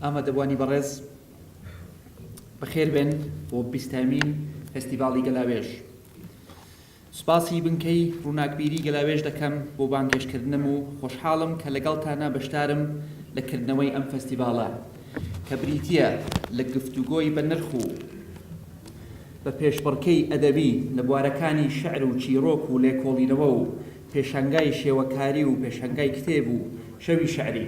ئامادەبوانی بەڕێز بەخێربێن بۆ بیستەمین فستیڤاڵی گەلاوێژ سوپاسی بنکەی ڕووناکبیری گەلاوێژ دەکەم بۆ بانگێشکردنم و خۆشحاڵم کە لەگەڵتانە بەشدارم لە کردنەوەی ئەم فستیڤاڵە کە بریتە لە گفتوگۆی بە نرخ و بە پێشبڕکەی ئەدەبی لە بوارەکانی شعر و چیرۆک و لێکۆڵینەوە و پێشنگای شێوەکاری و پێشنگای کتێب و شەوی شعری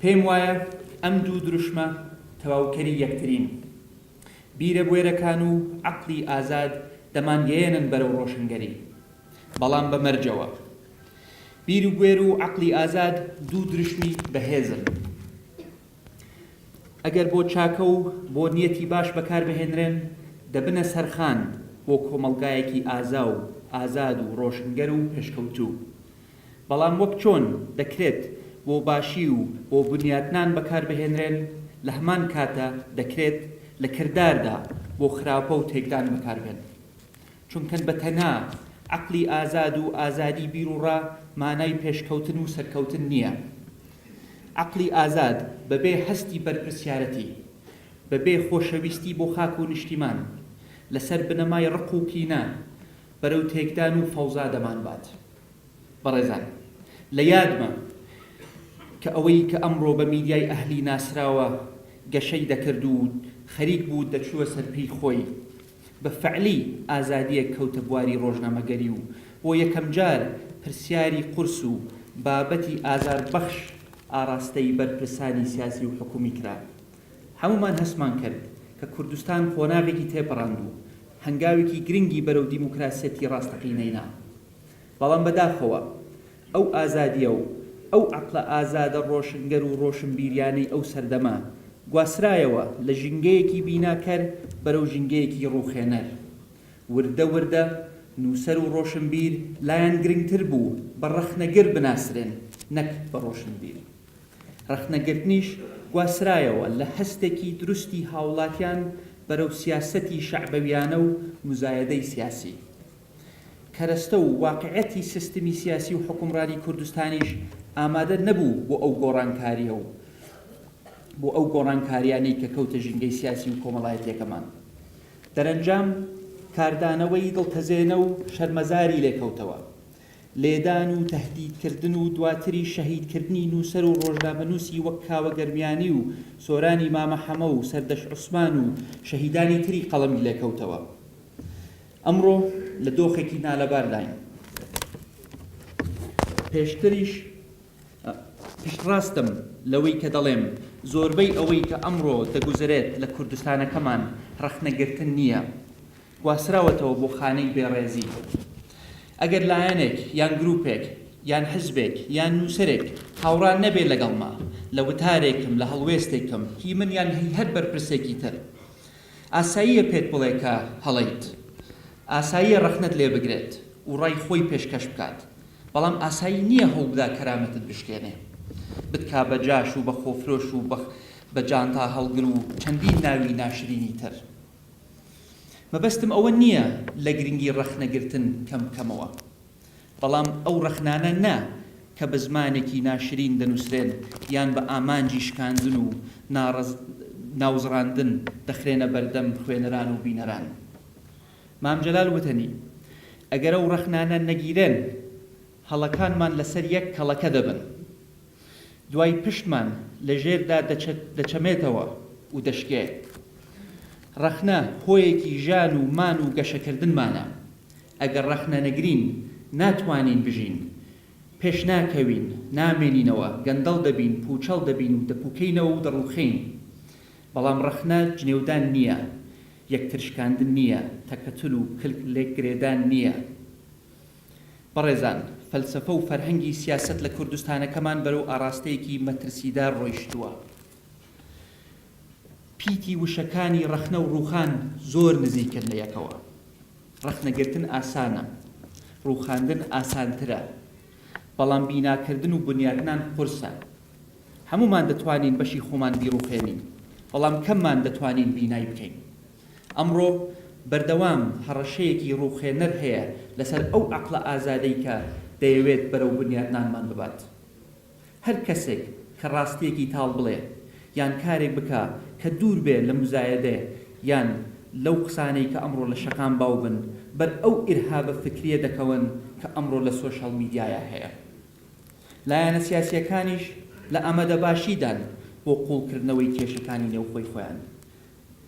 پێم وایە ئەم دوو دروشمە تەواوکەری یەکترین. بیرە بوێرەکان و عەقڵی ئازاد دەمانگەیەنن بەرەو ڕۆشنگەری. بەڵام بە مەرجەوە. بیر و بوێر و عەقڵی ئازاد دوو دروشمی بەهێزن. ئەگەر بۆ چاکە و بۆ نیەتی باش بەکار بهێنرێن، دەبنە سەرخان بۆ کۆمەڵگایەکی ئازا و ئازاد و ڕۆشنگەر و پێشکەوتوو. بەڵام وەک چۆن دەکرێت بۆ باشی و بۆ بنیاتنان بەکاربهێنرێن، لەهەمان کاتە دەکرێت لە کرداردا بۆ خراپە و تێکدان بەکاربێن. چونکە بەتەنها عەقڵی ئازاد و ئازادی بیروڕا مانای پێشکەوتن و سەرکەوتن نییە. عەقڵی ئازاد بەبێ هەستی بەرپرسیارەتی، بەبێ خۆشەویستی بۆ خاک و نیشتیمان، لەسەر بنەمای ڕق و کینە، بەرەو تێکدان و فەوزا دەمانبات. بەڕێزان لە یادمە کە ئەوەی کە ئەمڕۆ بە میدیای ئەهلی ناسراوە گەشەی دەکرد و خەریک بوو دەچووە سەرپێی خۆی بە فعلی ئازادییەک کەوتە بواری ڕۆژنامەگەری و بۆ یەکەمجار پرسیاری قورس و بابەتی ئازاربەخش ئاڕاستەی بەرپرسانی سیاسی و حکوومی کرا. هەموومان هەستمان کرد کە کوردستان قۆناغێکی تێپەڕاند و هەنگاوێکی گرنگی بەرەو دیموکراسیەتی ڕاستەقینەی نا. بەڵام بەداخەوە ئەو ئازادییە و ئەو عەقڵە ئازادە ڕۆشنگەر و ڕۆشنبیریانەی ئەو سەردەمە، گواسترایەوە لە ژینگەیەکی بیناکەر بەرەو ژینگەیەکی ڕووخێنەر. وردە وردە نووسەر و ڕۆشنبیر لایان گرنگتر بوو بە ڕەخنەگر بناسرێن نەک بە ڕۆشنبیر. ڕەخنەگرتنیش گواسترایەوە لە هەستێکی دروستی هاوڵاتیان بەرەو سیاسەتی شەعبەویانە و موزایەدەی سیاسی. کەرەستە و واقعیەتی سیستمی سیاسی و حوکمڕانی کوردستانیش ئامادە نەبوو بۆ ئەو گۆڕانکاریە و بۆ ئەو گۆڕانکاریانەی کە کەوتە ژینگەی سیاسی و کۆمەڵایەتیەکەمان. دەرەنجام کاردانەوەی دڵتەزێنە و شەرمەزاری لێکەوتەوە. لێدان و تەهدیدکردن و دواتریش شەهیدکردنی نووسەر و ڕۆژنامەنووسی وەک کاوە گەرمیانی و سۆرانی مامە حەمە و سەردەشت عوسمان و شەهیدانی تری قەڵەمی لێکەوتەوە. ئەمڕۆ لە دۆخێکی نالەبارداین، پێشتریش پشتڕاستم لەوەی کە دەڵێم زۆربەی ئەوەی کە ئەمڕۆ دەگوزەرێت لە کوردستانەکەمان ڕەخنەگرتن نییە، گواستراوەتەوە بۆ خانەی بێڕێزی. ئەگەر لایەنێک یان گروپێک یان حزبێک یان نووسەرێک هاوڕا نەبێت لەگەڵمە لە وتارێکم، لە هەڵوێستێکم، هی من یان هی هەر بەرپرسێکی تر، ئاساییە پێت بڵێ کە هەڵەیت، ئاساییە ڕەخنەت لێ بگرێت و ڕای خۆی پێشکەش بکات، بەڵام ئاسایی نییە هەوڵبدا کەرامەتت بشکێنێ، بتکا بە جاش و بە خۆفرۆش و بە جانتا هەڵگر و چەندین ناوی ناشرینی تر. مەبەستم ئەوە نییە لە گرنگی ڕەخنەگرتن کەم بکەمەوە. بەڵام ئەو ڕەخنانە نا کە بە زمانێکی ناشرین دەنووسرێن یان بە ئامانجی شکاندن و ناوزڕاندن دەخرێنە بەردەم خوێنەران و بینەران. مام جەلال وتەنی، ئەگەر ئەو ڕەخنانە نەگیرێن، هەڵەکانمان لەسەر یەک کەڵەکە دەبن. دوای پشتمان لە ژێردا دەچەمێتەوە و دەشکێ. ڕەخنە هۆیەکی ژان و مان و گەشەکردنمانە. ئەگەر ڕەخنە نەگرین ناتوانین بژین، پێشناکەوین، نامێنینەوە، گەندەڵ دەبین، پووچەڵ دەبین و دەپووکێینەوە و دەڕووخێین. بەڵام ڕەخنە جنێودان نییە، یەکتر شکاندن نییە، تەکەتول و کلک لێکگرێدان نییە. بەڕێزان، فەلسەفە و فەرهەنگی سیاسەت لە کوردستانەکەمان بەرەو ئاڕاستەیەکی مەترسیدار ڕۆیشتووە. پیتی وشەکانی ڕەخنە و ڕووخان زۆر نزیکن لە یەکەوە. ڕەخنەگرتن ئاسانە، ڕووخاندن ئاسانترە، بەڵام بیناکردن و بنیاتنان قورسە. هەموومان دەتوانین بەشی خۆمان بیڕووخێنین، بەڵام کەممان دەتوانین بینای بکەین. ئەمڕۆ بەردەوام هەڕەشەیەکی ڕووخێنەر هەیە لەسەر ئەو عەقڵە ئازادەی کە دەیەوێت بەرەو بنیاتنانمان ببات. هەر کەسێک کە ڕاستییەکی تاڵ بڵێ یان کارێک بکا کە دوور بێ لە موزایەدە یان لەو قسانەی کە ئەمڕۆ لە شەقام باو بن، بەر ئەو ئیرهابە فکرییە دەکەون کە ئەمڕۆ لە سۆشیاڵ میدیایا هەیە. لایەنە سیاسییەکانیش لە ئامادەباشیدان بۆ قووڵکردنەوەی کێشەکانی نێوخۆی خۆیان.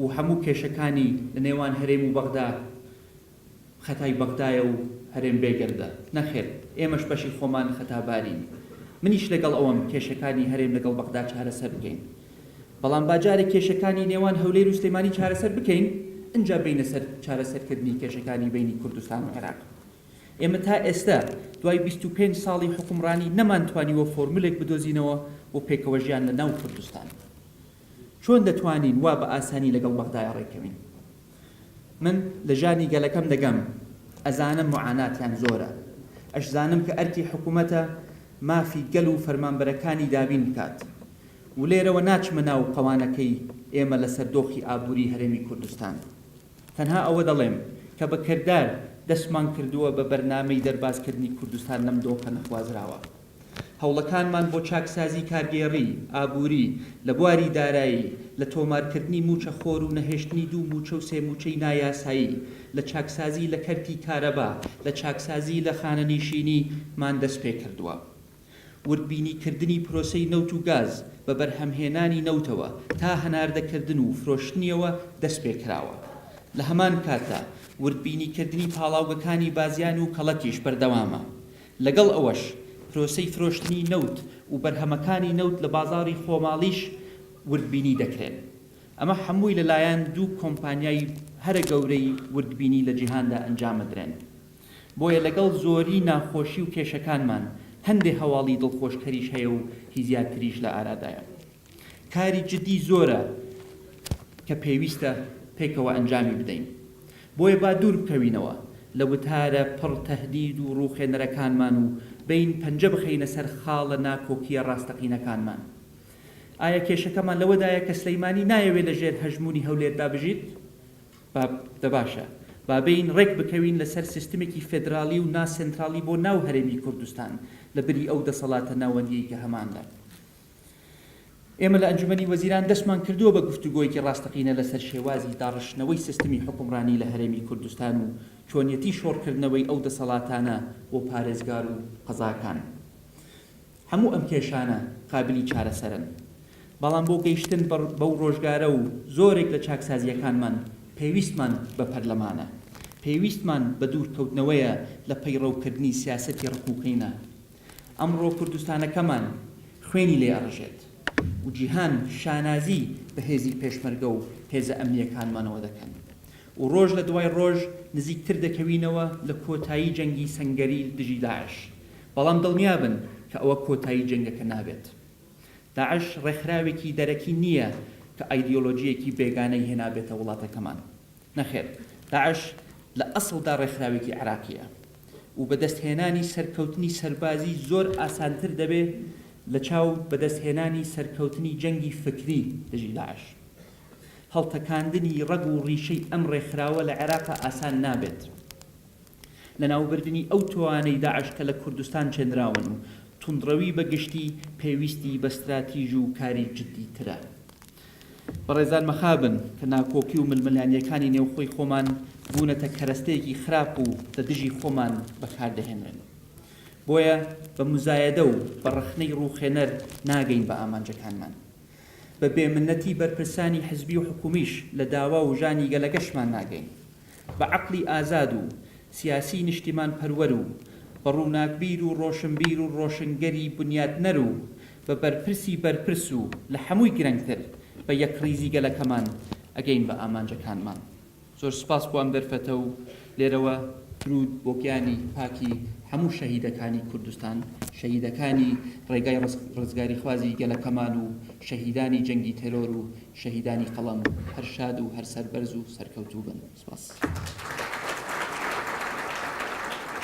و هەموو کێشەکانی لە نێوان هەرێم و بەغدا خەتای بەغدایە و هەرێم بێگەردە. نەخێر، ئێمەش بەشی خۆمان خەتابارین. منیش لەگەڵ ئەوەم کێشەکانی هەرێم لەگەڵ بەغدا چارەسەر بکەین. بەڵام با جارێ کێشەکانی نێوان هەولێر و سلێمانی چارەسەر بکەین، ئینجا بێینە سەر چارەسەرکردنی کێشەکانی بەینی کوردستان و عێراق. ئێمە تا ئێستە دوای بیست و پێنج ساڵی حوکمڕانی نەمانتوانیوە فۆرمولێک بدۆزینەوە بۆ پێکەوەژیان لە ناو کوردستان. چۆن دەتوانین وا بە ئاسانی لەگەڵ بەغدایە ڕێککەوین؟ من لە ژانی گەلەکەم دەگەم، ئەزانم موعاناتیان زۆرە، ئەشزانم کە ئەرکی حکوومەتە مافی گەل و فەرمانبەرەکانی دابین بکات و لێرەوە ناچمە ناو قەوانەکەی ئێمە لەسەر دۆخی ئابووریی هەرێمی کوردستان. تەنها ئەوە دەڵێم کە بە کردار دەستمان کردووە بە بەرنامەی دەربازکردنی کوردستان لەم دۆخە نەخوازراوە. هەوڵەکانمان بۆ چاکسازی کارگێڕی ئابووری لە بواری دارایی، لە تۆمارکردنی مووچە خۆر و نەهێشتنی دوو مووچە و سێ مووچەی نایاسایی، لە چاکسازی لە کەرتی کارەبا، لە چاکسازی لە خانەنیشینی مان دەست پێ کردووە. وردبینی کردنی پرۆسەی نەوت و گاز بە بەرهەمهێنانی نەوتەوە تا هەناردە کردن و فرۆشتنیەوە دەست پێ کراوە. لە هەمان کاتدا وردبینی کردنی پاڵاوگەکانی بازیان و کەڵەکیش بەردەوامە. لەگەڵ ئەوەش پرۆسەی فرۆشتنی نەوت و بەرهەمەکانی نەوت لە بازاڕی خۆماڵیش وردبینی دەکرێن، ئەمە هەمووی لەلایەن دوو کۆمپانیای هەرە گەورەی وردبینی لە جیهاندا ئەنجامەدرێن. بۆیە لەگەڵ زۆری ناخۆشی و کێشەکانمان هەندێ هەواڵی دڵخۆشکەریش هەیە و هی زیاتریش لە ئارادایە. کاری جدی زۆرە کە پێویستە پێکەوە ئەنجامی بدەین، بۆیە با دوور بکەوینەوە لە وتارە پڕ تەهدید و ڕووخێنەرەکانمان و بێین پەنجە بخەینە سەر خاڵە ناکۆکییە ڕاستەقینەکانمان. ئایا کێشەکەمان لەوەدایە کە سلیمانی نایەوێت لە ژێر هەژموونی هەولێردا بژیت؟ با دە باشە با بێین ڕێک بکەوین لە سەر سیستمێکی فێدراڵی و نا سێنتراڵی بۆ ناو هەرێمی کوردستان لە بری ئەو دەسەڵاتە ناوەندییەی کە هەمان لە ئێمە لە ئەنجومەنی وەزیران دەستمان کردووە بە گفتوگۆیەکی ڕاستەقینە لەسەر شێوازی داڕشتنەوەی سستمی حوکمڕانی لە هەرێمی کوردستان و چۆنیەتی شۆڕکردنەوەی ئەو دەسەڵاتانە بۆ پارێزگار و قەزاکان. هەموو ئەم کێشانە قابیلی چارەسەرن. بەڵام بۆ گەیشتن بەو ڕۆژگارە و زۆرێک لە چاکسازییەکانمان پێویستمان بە پەرلەمانە. پێویستمان بە دوورکەوتنەوەیە لە پەیڕەوکردنی سیاسەتی ڕق و قینە. ئەمڕۆ کوردستانەکەمان خوێنی لێ ئەڕژێت و جیهان شانازی بە هێزی پێشمەرگە و هێزە ئەمنییەکانمانەوە دەکەن و ڕۆژ لە دوای ڕۆژ نزیکتر دەکەوینەوە لە کۆتایی جەنگی سەنگەری دژی داعش بەڵام دڵنیابن کە ئەوە کۆتایی جەنگەکە نابێت داعش ڕێکخراوێکی دەرەکی نییە کە ئایدیۆلۆجییەکی بێگانەی هێنابێتە وڵاتەکەمان نەخێر داعش لە ئەسڵدا ڕێکخراوێکی عێراقییە و بەدەستهێنانی سەرکەوتنی سەربازی زۆر ئاسانتر دەبێت لەچاو بەدەستهێنانی سەرکەوتنی جەنگی فکری دژی داعش. هەڵتەکاندنی ڕەگ و ڕیشەی ئەم ڕێکخراوە لە عێراقا ئاسان نابێت. لەناوبردنی ئەو تۆانەی داعش کە لە کوردستان چێنراون و توندڕەوی بەگشتی پێویستی بە ستراتیژ و کاری جددیترە. بەڕێزان مەخابن کە ناکۆکی و ململانیەکانی نێوخۆی خۆمان بوونەتە کەرەستەیەکی خراپ و لە دژی خۆمان بەکار دەهێنرێن. بۆیە بە موزایەدە و بە ڕەخنەی ڕووخێنەر ناگەین بە ئامانجەکانمان. بە بێمنەتی بەرپرسانی حزبی و حکومیش لە داوا و ژانی گەلەکەشمان ناگەین. بە عەقڵی ئازاد و سیاسیی نیشتیمانپەروەر و بە ڕووناکبیر و ڕۆشنبیر و ڕۆشنگەری بنیاتنەر و بە بەرپرسی بەرپرس و لە حەمووی گرنگتر بە یەکڕیزی گەلەکەمان ئەگەین بە ئامانجەکانمان. زۆر سوپاس بۆ ئەم دەرفەتە و لێرەوە. درود بۆ گیانی پاکی هەموو شەهیدەکانی کوردستان، شەهیدەکانی ڕێگای ڕزگاریخوازی گەلەکەمان و شەهیدانی جەنگی تێرۆر و شەهیدانی قەڵەم هەر شاد و هەر سەربەرز و سەرکەوتوو بن. سپاس.